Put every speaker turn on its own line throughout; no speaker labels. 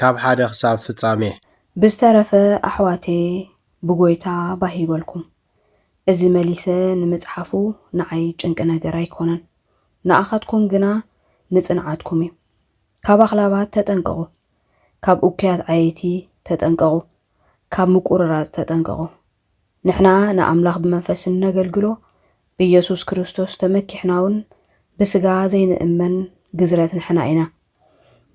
ካብ ሓደ ክሳብ ፍጻሜ። ብዝተረፈ
ኣሕዋተየ ብጎይታ ባህ ይበልኩም እዚ መሊሰ ንምጽሓፉ ንዓይ ጭንቂ ነገር ኣይኮነን ንኣኻትኩም ግና ንጽንዓትኩም እዩ ካብ ኣኽላባት ተጠንቀቑ ካብ ኡኩያት ዓየይቲ ተጠንቀቑ ካብ ምቁርራጽ ተጠንቀቑ ንሕና ንኣምላኽ ብመንፈስ እነገልግሎ ብኢየሱስ ክርስቶስ ተመኪሕናውን ብስጋ ዘይንእመን ግዝረት ንሕና ኢና።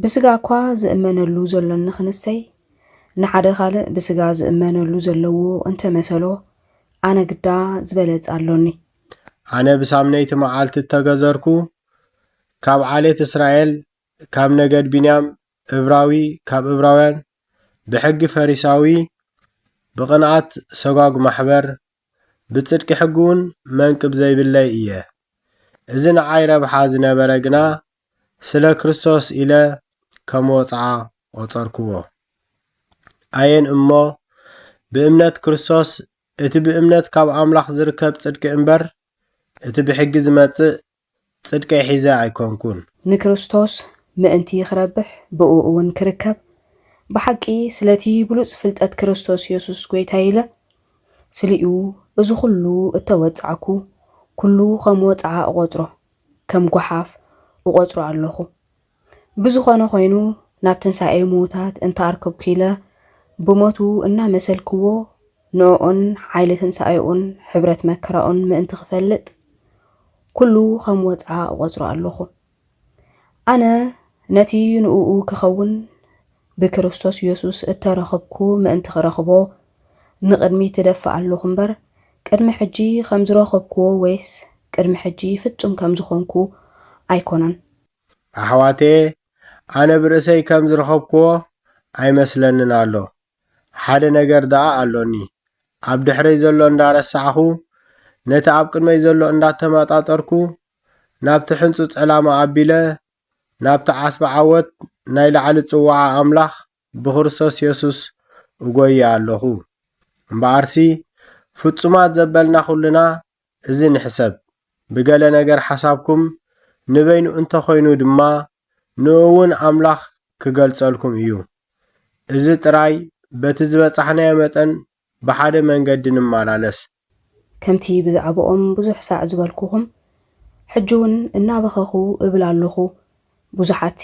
ብስጋ እኳ ዝእመነሉ ዘሎ እንክንሰይ ንሓደ ካልእ ብስጋ ዝእመነሉ ዘለዎ እንተመሰሎ ኣነ ግዳ ዝበለጽ ኣሎኒ። ኣነ
ብሳምነይቲ መዓልቲ እተገዘርኩ፣ ካብ ዓሌት እስራኤል፣ ካብ ነገድ ብንያም፣ እብራዊ ካብ እብራውያን ብሕጊ ፈሪሳዊ ብቕንኣት ሰጓጕ ማሕበር ብጽድቂ ሕጊውን መንቅብ ዘይብለይ እየ። እዚ ንዓይ ረብሓ ዝነበረ ግና ስለ ክርስቶስ ኢለ ከም ወጽዓ ቈጸርክዎ። ኣየን እሞ ብእምነት ክርስቶስ እቲ ብእምነት ካብ ኣምላኽ ዝርከብ ጽድቂ እምበር እቲ ብሕጊ ዝመጽእ ጽድቀይ ሒዘ ኣይኮንኩን። ንክርስቶስ
ምእንቲ ክረብሕ ብእኡውን ክርከብ፣ ብሓቂ ስለቲ ብሉጽ ፍልጠት ክርስቶስ የሱስ ጐይታይ ኢለ፣ ስሊኡ እዚ ዅሉ እተወጻዕኩ፣ ኵሉ ኸም ወጽዓ እቖጽሮ፣ ከም ጐሓፍ እቖጽሮ ኣሎኹ። ብዝኾነ ኾይኑ ናብ ትንሣኤ ምዉታት እንተ ኣርከብኩለ ብሞቱ እናመሰልክዎ ንእኡን ሓይሊ ትንሣኤኡን ሕብረት መከራኡን ምእንቲ ክፈልጥ ኩሉ ኸም ወጽዓ እቖጽሮ ኣሎኹ። ኣነ ነቲ ንእኡ ክኸውን ብክርስቶስ ኢየሱስ እተረኽብኩ ምእንቲ ክረኽቦ ንቕድሚት ትደፍእ ኣሎኹ እምበር ቅድሚ ሕጂ ከም ዝረኽብክዎ ወይስ ቅድሚ ሕጂ ፍጹም ከም ዝኾንኩ ኣይኮነን።
ኣሕዋተየ ኣነ ብርእሰይ ከም ዝረኸብክዎ ኣይመስለንን ኣሎ ሓደ ነገር ደኣ ኣሎኒ ኣብ ድሕረይ ዘሎ እንዳረሳዕኹ ነቲ ኣብ ቅድመይ ዘሎ እንዳተማጣጠርኩ ናብቲ ሕንጹጽ ዕላማ ኣቢለ ናብቲ ዓስቢ ዓወት ናይ ላዕሊ ጽውዓ ኣምላኽ ብክርስቶስ የሱስ እጐዪ ኣሎኹ። እምበኣርሲ ፍጹማት ዘበልና ዅልና እዚ ንሕሰብ፣ ብገለ ነገር ሓሳብኩም ንበይኑ እንተ ዀይኑ ድማ፣ ንእኡውን ኣምላኽ ኪገልጸልኩም እዩ። እዚ ጥራይ በቲ ዝበጻሕናዮ መጠን ብሓደ መንገዲ ንመላለስ። ከምቲ
ብዛዕባኦም ብዙሕ ሳዕ ዝበልኩኹም፣ ሕጂውን እናበኸኹ እብል ኣሎኹ፣ ብዙሓትሲ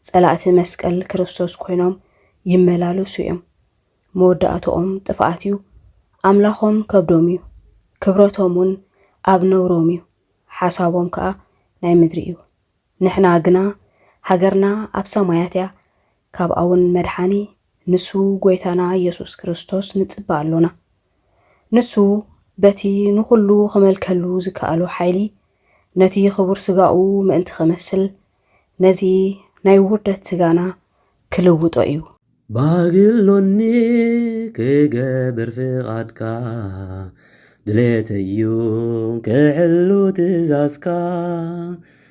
ጸላእቲ መስቀል ክርስቶስ ኮይኖም ይመላለሱ እዮም። መወዳእትኦም ጥፍኣት እዩ፣ ኣምላኾም ከብዶም እዩ፣ ክብረቶምውን ኣብ ነውሮም እዩ፣ ሓሳቦም ከኣ ናይ ምድሪ እዩ። ንሕና ግና ሃገርና ኣብ ሰማያት እያ፣ ካብኣውን መድሓኒ ንሱ ጎይታና ኢየሱስ ክርስቶስ ንጽበ ኣሎና። ንሱ በቲ ንኹሉ ክመልከሉ ዝከኣሎ ሓይሊ ነቲ ክቡር ስጋኡ ምእንቲ ክመስል ነዚ ናይ ውርደት ስጋና ክልውጦ እዩ። ባህጊ ኣሎኒ
ክገብር ፍቓድካ ድሌተይ እዩ ክሕሉ ትእዛዝካ።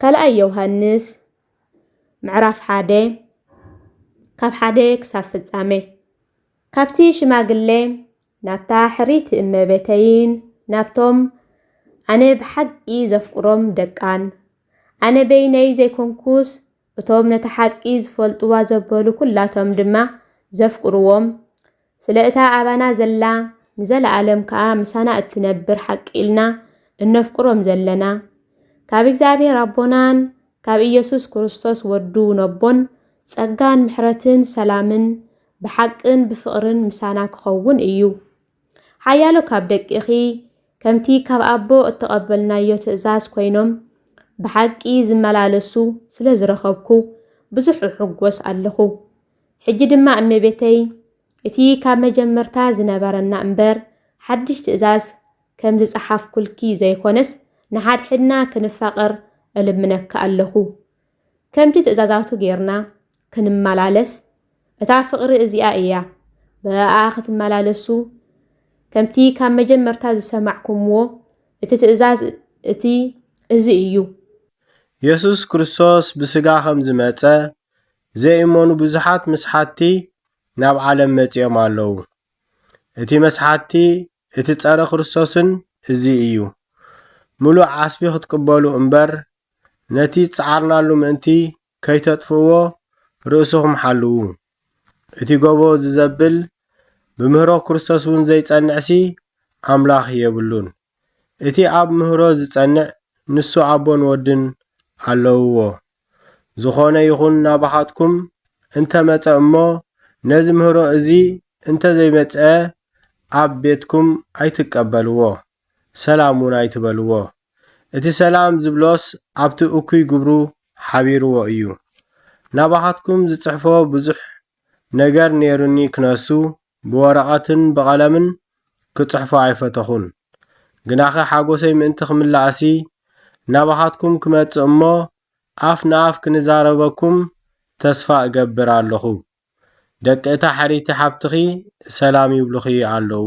ካልኣይ ዮውሃንስ ምዕራፍ ሓደ ካብ ሓደ ክሳብ ፍጻመ ካብቲ ሽማግለ ናብታ ሕሪት እመቤተይን ናብቶም ኣነ ብሓቂ ዘፍቅሮም ደቃን ኣነ በይነይ ዘይኮንኩስ እቶም ነታ ሓቂ ዝፈልጡዋ ዘበሉ ኩላቶም ድማ ዘፍቅሩዎም ስለ እታ ኣባና ዘላ ንዘለኣለም ከኣ ምሳና እትነብር ሓቂ ኢልና እነፍቅሮም ዘለና ካብ እግዚኣብሔር ኣቦናን ካብ ኢየሱስ ክርስቶስ ወዱ ነቦን ጸጋን ምሕረትን ሰላምን ብሓቅን ብፍቕርን ምሳና ክኸውን እዩ። ሓያሎ ካብ ደቂኺ ከምቲ ካብ ኣቦ እተቐበልናዮ ትእዛዝ ኮይኖም ብሓቂ ዝመላለሱ ስለ ዝረኸብኩ ብዙሕ እሕጐስ ኣለኹ። ሕጂ ድማ እመቤተይ፣ እቲ ካብ መጀመርታ ዝነበረና እምበር ሓድሽ ትእዛዝ ከም ዝጸሓፍኩልኪ ዘይኮነስ ንሓድሕድና ክንፋቐር እልምነኪ ኣለኹ። ከምቲ ትእዛዛቱ ጌርና ክንመላለስ እታ ፍቕሪ እዚኣ እያ ብእኣ ክትመላለሱ ከምቲ ካብ መጀመርታ ዝሰማዕኩምዎ እቲ ትእዛዝ እቲ እዚ እዩ። የሱስ
ክርስቶስ ብስጋ ከም ዝመጸ ዘይእመኑ ብዙሓት መስሓትቲ ናብ ዓለም መጺኦም ኣለዉ። እቲ መስሓትቲ እቲ ጸረ ክርስቶስን እዚ እዩ። ምሉእ ዓስቢ ክትቅበሉ እምበር ነቲ ዝጸዓርናሉ ምእንቲ ከይተጥፍእዎ ርእስኹም ሓልዉ። እቲ ጎቦ ዝዘብል ብምህሮ ክርስቶስውን ዘይጸንዕሲ ኣምላኽ የብሉን። እቲ ኣብ ምህሮ ዝጸንዕ ንሱ ኣቦን ወድን ኣለውዎ። ዝኾነ ይኹን ናባኻትኩም እንተ መጸ እሞ፣ ነዚ ምህሮ እዚ እንተ ዘይመጽአ ኣብ ቤትኩም ኣይትቀበልዎ፣ ሰላም ውን ኣይትበልዎ። እቲ ሰላም ዝብሎስ ኣብቲ እኩይ ግብሩ ሓቢርዎ እዩ። ናባኻትኩም ዝጽሕፎ ብዙሕ ነገር ኔሩኒ ክነሱ ብወረቐትን ብቐለምን ክጽሕፎ ኣይፈተኹን። ግናኸ ሓጐሰይ ምእንቲ ክምላእሲ፣ ናባኻትኩም ክመጽእ እሞ ኣፍ ንኣፍ ክንዛረበኩም ተስፋ እገብር ኣሎኹ። ደቂ እታ ሕርይቲ ሓብትኺ ሰላም ይብሉኺ ኣሎዉ።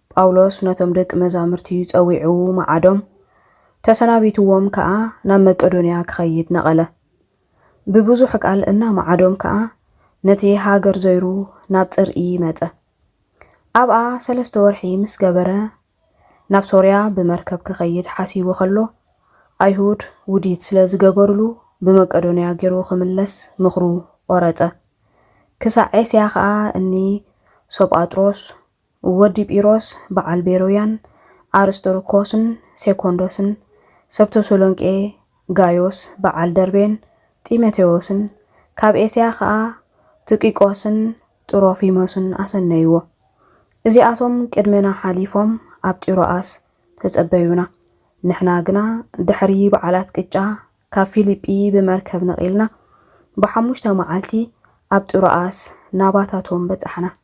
ጳውሎስ ነቶም ደቂ መዛሙርቲ ጸዊዑ መዓዶም፣ ተሰናቢትዎም ከኣ ናብ መቄዶንያ ክኸይድ ነቐለ። ብብዙሕ ቃል እናመዓዶም ከኣ ነቲ ሃገር ዞይሩ ናብ ጽርኢ መጸ። ኣብኣ ሰለስተ ወርሒ ምስ ገበረ ናብ ሶርያ ብመርከብ ክኸይድ ሓሲቡ ከሎ፣ ኣይሁድ ውዲት ስለ ዝገበሩሉ ብመቄዶንያ ገይሩ ክምለስ ምኽሩ ቖረጸ። ክሳዕ ኤስያ ከኣ እኒ ሶጳጥሮስ ወዲ ጲሮስ በዓል ቤሮያን ኣርስጥርኮስን ሴኮንዶስን፣ ሰብ ተሰሎንቄ ጋዮስ በዓል ደርቤን ጢሞቴዎስን፣ ካብ ኤስያ ኸኣ ትቂቆስን ጥሮፊሞስን ኣሰነይዎ። እዚኣቶም ቅድሜና ሓሊፎም ኣብ ጢሮኣስ ተጸበዩና፣ ንሕና ግና ድሕሪ በዓላት ቅጫ ካብ ፊልጲ ብመርከብ ነቒልና ብሓሙሽተ መዓልቲ ኣብ ጥሮኣስ ናባታቶም በጻሕና።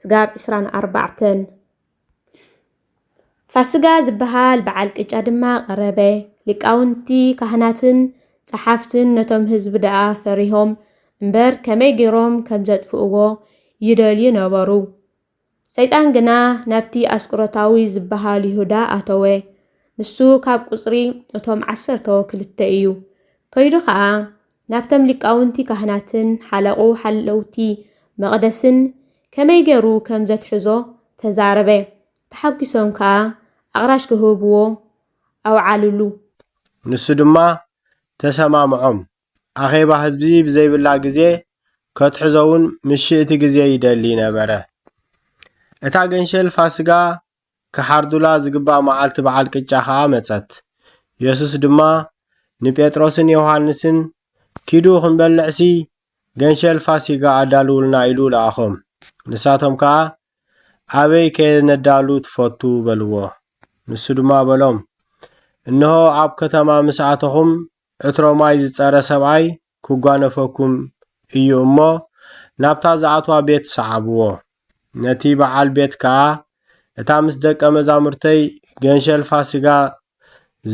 ስጋብ ዕስራን ኣርባዕተን ፋስጋ ዝበሃል በዓል ቅጫ ድማ ቀረበ። ሊቃውንቲ ካህናትን ጸሓፍትን ነቶም ህዝቢ ደኣ ፈሪሆም እምበር ከመይ ገይሮም ከም ዘጥፍእዎ ይደልዩ ነበሩ። ሰይጣን ግና ናብቲ ኣስቆሮታዊ ዝበሃል ይሁዳ ኣተወ። ንሱ ካብ ቁጽሪ እቶም ዓሰርተው ክልተ እዩ። ከይዱ ኸኣ ናብቶም ሊቃውንቲ ካህናትን ሓለቑ ሓለውቲ መቕደስን ከመይ ገሩ ከም ዘትሕዞ ተዛረበ፣ ተሓጒሶም ከኣ ኣቕራሽ ክህብዎ ኣውዓሉሉ።
ንሱ ድማ ተሰማምዖም፣ ኣኼባ ህዝቢ ብዘይብላ ግዜ ከትሕዞውን ምሽእቲ ግዜ ይደሊ ነበረ። እታ ገንሸል ፋስጋ ኪሓርዱላ ዚግባእ መዓልቲ በዓል ቅጫ ኸኣ መጸት። የሱስ ድማ ንጴጥሮስን ዮሃንስን፣ ኪዱ ኽንበልዕሲ፣ ገንሸል ፋሲጋ ኣዳልዉልና ኢሉ ለኣኾም። ንሳቶም ከኣ፣ ኣበይ ከነዳሉ ትፈቱ? በልዎ። ንሱ ድማ በሎም፣ እንሆ፣ ኣብ ከተማ ምስ ኣተኹም፣ ዕትሮ ማይ ዝጸረ ሰብኣይ ክጓነፈኩም እዩ እሞ፣ ናብታ ዝኣትዋ ቤት ሰዓብዎ። ነቲ በዓል ቤት ከኣ፣ እታ ምስ ደቀ መዛሙርተይ ገንሸል ፋስጋ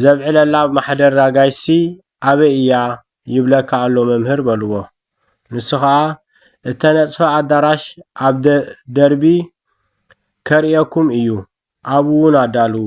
ዘብዕለላ ማሕደር ኣጋይሽሲ ኣበይ እያ ይብለካ ኣሎ መምህር በልዎ። ንሱ ኸኣ፣ እተነጽፈ ኣዳራሽ ኣብ ደርቢ ከርእየኩም እዩ፣ ኣብኡውን ኣዳልዉ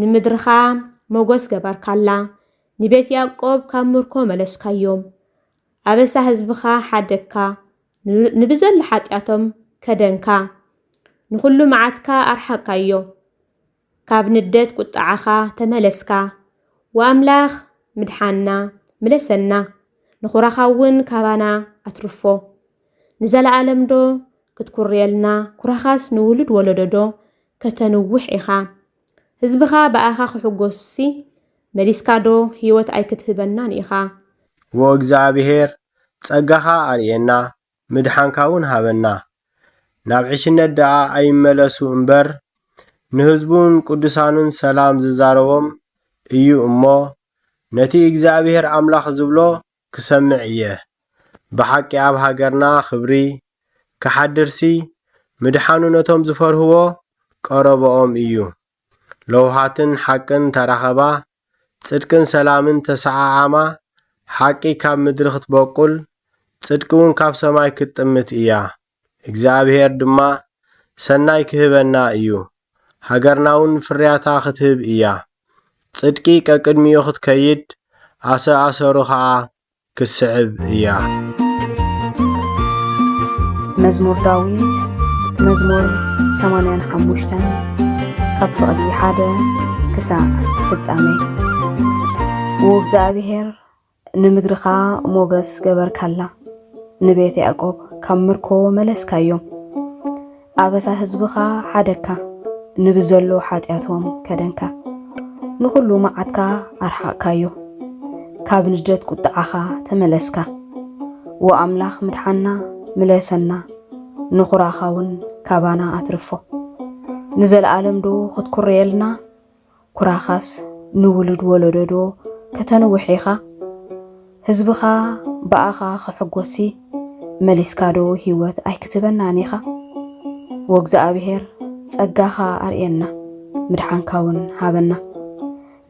ንምድርኻ መጐስ ገበርካላ፣ ንቤት ያእቆብ ካብ ምርኮ መለስካዮም። ኣበሳ ህዝብኻ ሓደግካ፣ ንብዘሎ ሓጢኣቶም ከደንካ። ንዅሉ መዓትካ ኣርሓቕካዮ፣ ካብ ንደት ቍጥዓኻ ተመለስካ። ወኣምላኽ ምድሓንና ምለሰና፣ ንኵራኻውን ካባና ኣትርፎ። ንዘለኣለምዶ ክትኵርየልና፣ ኵራኻስ ንውሉድ ወለዶዶ ከተንውሕ ኢኻ ህዝብኻ ብኣኻ ክሕጎስሲ መሊስካ ዶ ሂወት ኣይክትህበናን ኢኻ። ዎእግዝኣብሄር
ጸጋኻ ኣርእየና ምድሓንካ ውን ሃበና ናብ ዕሽነት ደኣ ኣይመለሱ እምበር ንህዝቡን ቅዱሳኑን ሰላም ዝዛረቦም እዩ እሞ ነቲ እግዚኣብሄር ኣምላኽ ዝብሎ ክሰምዕ ኢየ ብሓቂ ኣብ ሃገርና ክብሪ ክሓድርሲ ምድሓኑ ነቶም ዝፈርህዎ ቀረቦኦም ኢዩ ለውሃትን ሓቅን ተራኸባ ጽድቅን ሰላምን ተሰዓዓማ ሓቂ ካብ ምድሪ ክትቦቁል ጽድቂ ውን ካብ ሰማይ ክትጥምት ኢያ እግዚኣብሄር ድማ ሰናይ ክህበና እዩ፣ ሃገርናውን ፍርያታ ኽትህብ እያ። ጽድቂ ቀቅድሚኡ ኽትከይድ፣ ኣሰ ኣሰሩ ኸኣ ክትስዕብ እያ።
መዝሙር ዳዊት መዝሙር 85 ካብ ፍቕዲ ሓደ ክሳዕ ፍጻሜ። ውእግዚኣብሄር ንምድርኻ ሞገስ ገበርካላ፣ ንቤት ያዕቆብ ካብ ምርኮ መለስካዮም። ኣበሳ ህዝብኻ ሓደግካ፣ ንብዘሎ ሓጢኣቶም ከደንካ። ንኹሉ መዓትካ ኣርሓቕካዮ፣ ካብ ንደት ቁጥዓኻ ተመለስካ። ዎ ኣምላኽ ምድሓና ምለሰና፣ ንኹራኻውን ካባና ኣትርፎ። ንዘለኣለምዶ ክትኩርየልና? ኩራኻስ ንውሉድ ወለዶዶ ከተንውሕ ኢኻ? ህዝብኻ ብኣኻ ክሕጎስሲ መሊስካዶ ህይወት ኣይክትህበናን ኢኻ? ወእግዝኣብሄር ጸጋኻ ኣርእየና ምድሓንካውን ሃበና።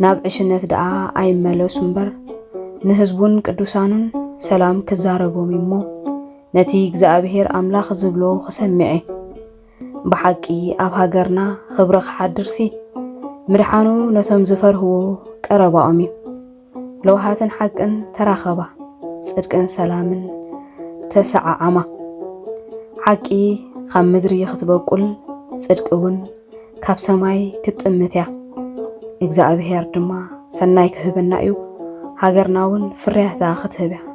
ናብ ዕሽነት ደኣ ኣይመለሱ እምበር ንህዝቡን ቅዱሳኑን ሰላም ክዛረቦም እዩሞ ነቲ እግዚኣብሄር ኣምላኽ ዝብሎ ክሰሚዐ ብሓቂ ኣብ ሃገርና ኽብሪ ክሓድርሲ ምድሓኑ ነቶም ዝፈርህዎ ቀረባኦም እዩ። ለውሃትን ሓቅን ተራኸባ፣ ጽድቅን ሰላምን ተሰዓዓማ። ሓቂ ካብ ምድሪ ክትበቁል ጽድቂ እውን ካብ ሰማይ ክትጥምት እያ። እግዚኣብሔር ድማ ሰናይ ክህበና እዩ፣ ሃገርና እውን ፍርያታ ክትህብ እያ።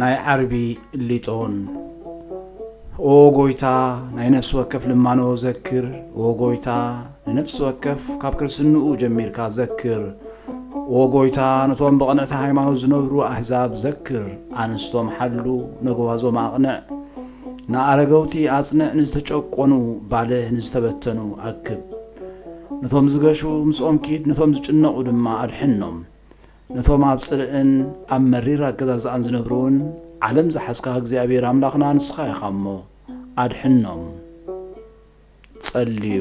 ናይ ዓርቢ ሊጦን። ኦ ጎይታ ናይ ነፍሲ ወከፍ ልማኖ ዘክር ኦ ጎይታ ንነፍሲ ወከፍ ካብ ክርስንኡ ጀሚርካ ዘክር ኦ ጎይታ ነቶም ብቕንዕቲ ሃይማኖት ዝነብሩ ኣህዛብ ዘክር ኣንስቶም ሓሉ ነጎባዞም ኣቕንዕ ንኣረገውቲ ኣጽንዕ ንዝተጨቆኑ ባልህ ንዝተበተኑ ኣክብ ነቶም ዝገሹ ምስኦም ኪድ ነቶም ዝጭነቑ ድማ ኣድሕኖም ነቶም ኣብ ጽልእን ኣብ መሪር ኣገዛዝኣን ዝነብሩውን ዓለም ዝሓዝካ እግዚኣብሔር ኣምላኽና ንስኻ ኢኻ እሞ ኣድሕኖም ጸልዩ።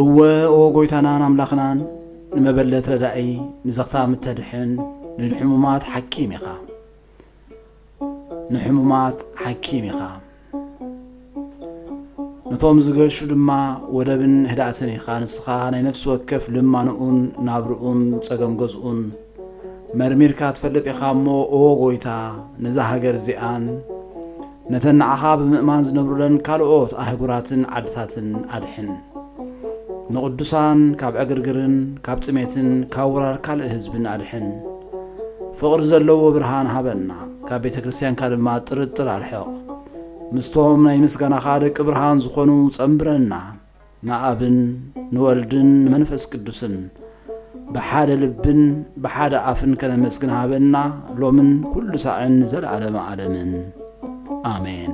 እወ ኦ ጎይታናን ኣምላኽናን ንመበለት ረዳኢ ንዘኽታም እተድሕን ንድሕሙማት ሓኪም ኢኻ። ንሕሙማት ሓኪም ኢኻ፣ ነቶም ዝገሹ ድማ ወደብን ህድኣትን ኢኻ። ንስኻ ናይ ነፍሲ ወከፍ ልማንኡን ናብርኡን ጸገም ገዝኡን መርሚርካ ትፈልጥ ኢኻ እሞ ኦ ጎይታ ነዛ ሃገር እዚኣን ነተን ንዓኻ ብምእማን ዝነብሩለን ካልኦት ኣህጉራትን ዓድታትን ኣድሕን። ንቕዱሳን ካብ ዕግርግርን ካብ ጥሜትን ካብ ወራር ካልእ ህዝብን ኣድሕን። ፍቕሪ ዘለዎ ብርሃን ሃበና፣ ካብ ቤተ ክርስቲያንካ ድማ ጥርጥር ኣርሕቕ። ምስቶም ናይ ምስጋናኻ ደቂ ብርሃን ዝኾኑ ጸምብረና። ንኣብን ንወልድን ንመንፈስ ቅዱስን ብሓደ ልብን ብሓደ ኣፍን ከነመስግን ሃበና ሎምን ኩሉ ሳዕን ንዘለዓለመ ኣለምን ኣሜን።